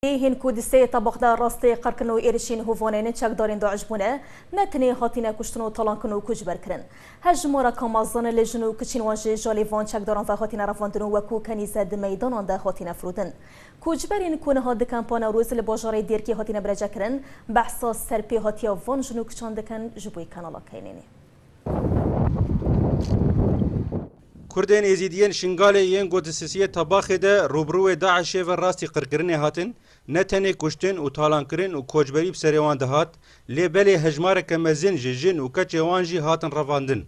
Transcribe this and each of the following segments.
Ê hîn ku di sê tabaq de rastê qirkin û êrişîn hovanên çekdarên DAIŞ bûne, ne tenê hatine kuştin û talankin û koçber kirin. Hevjimara kamazan li jin û kiçên wan ji jalê van çekdaran ve hatine revandin û weku kenîze di meydanan de hatine firotin. Koçberên ku niha di Kempa Newroz li bajarê Dêrkê hatine birêcekirin, behsa serpêhatiya van jin û kiçan dikin ji bo kanala KNN'ê. Kurdên Êzîdî yên Şingalê yên ku di sisiyê Tabaxê de rûbirûê DAIŞ'ê ve rastî qirkirinê hatin, ne tenê kuştin û talankirin û koçberî bi serê wan dihat, lê belê hejmareke mezin ji jin û keçê wan jî hatin revandin.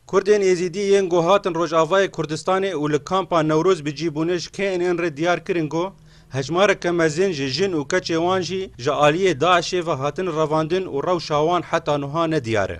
Kurdên Êzîdî yên ku hatin Rojavayê Kurdistanê û li Kampa Newroz bi cî bûne ji KNN re diyar kirin ku hejmareke mezin ji jin û keçê wan jî ji aliyê DAIŞ'ê ve hatin revandin û rewşa wan heta nuha ne diyar e.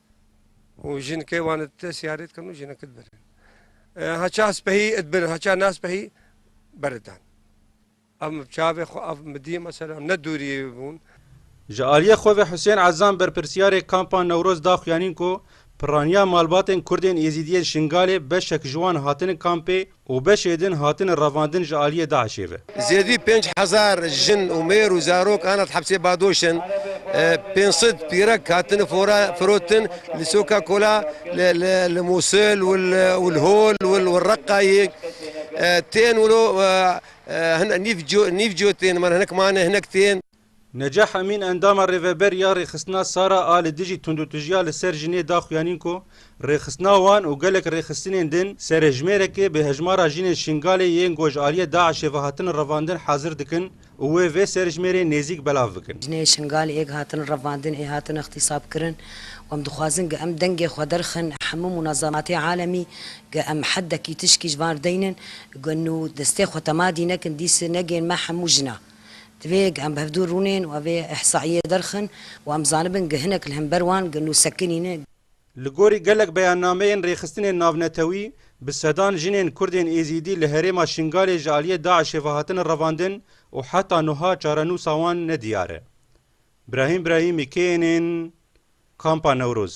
û jin ke wan id siyarê dikin û jinek id birin. Haça spehî id birin, haça na spehî ber id dan. Ev min bi çavê xwe, ev min bi dîyê me selam ne dûrî bûn. Ji aliyê xwe ve Husên Ezam berpirsiyarê Kampa Newroz da xuyanîn ku pirraniya malbatên Kurdên Êzîdiyên Şingalê beşek ji wan hatine kampê, û beşê din hatine revandin ji aliyê DAIŞ'ê ve. Zêdî pênc hezar jin û mêr û zarok hane di hepsê Badoş'in. Pênc sed pîrek hatine firotin li soka Kola li Mûsil û li Hol û li Reqqayê. Tên wilo hin nîv cotên, hinek mane, hinek tên. Necah Emîn endama Rêveber ya Rêxistina Sara a li dijî tundûtijiya li ser jinê da xuyanîn ku rêxistina wan û gelek rêxistinên din serêjmêrekê bi hejmara jinên Şingalê yên goj aliyê DAIŞ'ê ve hatin revandin hazir dikin û wê vê serêjmêrê nêzîk belav bikin. Jinên Şingalê yê hatin revandin ê hatin îxtîsab kirin û em dixwazin ku em dengê xwe derxin hemû munazematê alemî ku em heddekî tişkî ji van daynin ku nû destê xwe tema dî nekin dîs negên me hemû jinan. Divê em bi hevdû rûnên û vê îhsaîyê derxin û em zanibin gi hinek li hember wan gi nûsekinî ne. Li gorî gelek beyannameyên rêxistinên navnetewî, bi sedan jinên Kurdên Êzîdî li herêma Şingalê ji aliyê DAIŞ'ê ve hatine revandin û heta nuha çarenûsa wan ne diyar e. Brahîm Brahîmî kê ên ên Kampa Newroz?